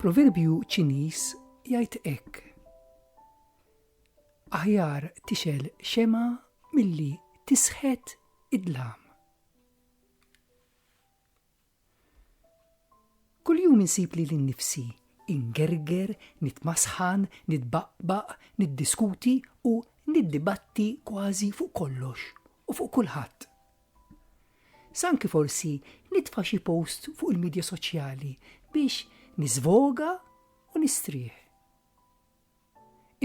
Proverbju Ċiniż jgħid hekk. Aħjar tixel xema milli tisħet id-dlam. Kuljum insib lili nnifsi ingerger, nitmasħan, nitbaqbaq, niddiskuti u niddibatti kważi fuq kollox u fuq kulħadd. Sa anki forsi nitfa' xi post fuq il-midja soċjali biex niżvoga u nistrieħ.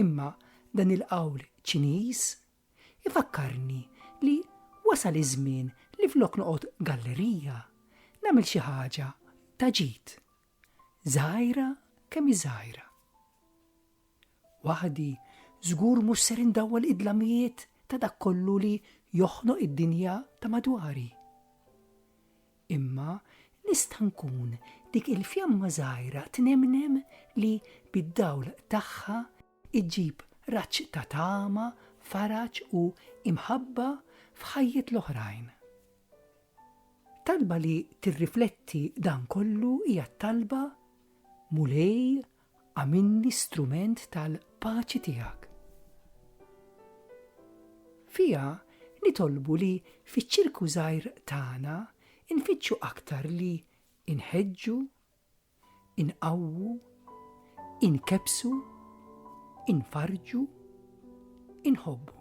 Imma dan il-qawl Ċiniż ifakkarni li wasal iż-żmien li flok noqgħod gallerija, nagħmel xi ħaġa ta' ġid. Żgħira kemm hi żgħira. Waħdi żgur mhux ser indawwal id-dlamijiet ta' dak kollu li joħnoq id-dinja ta' madwari. Imma nista' nkun dik il-fjamma żgħira tnemnem li bid-dawl tagħha ġġib raġġ ta' tama, faraġ u imħabba f'ħajjet l-oħrajn. Talba li tirrifletti dan kollu hija t-talba, Mulej, Għamilni strument tal-paċi tiegħek. Fiha nitolbu li fiċ-ċirku żgħir tagħna nfittxu aktar li inħeġġu, inqawwu, inkebsu, infarġu, inħobbu.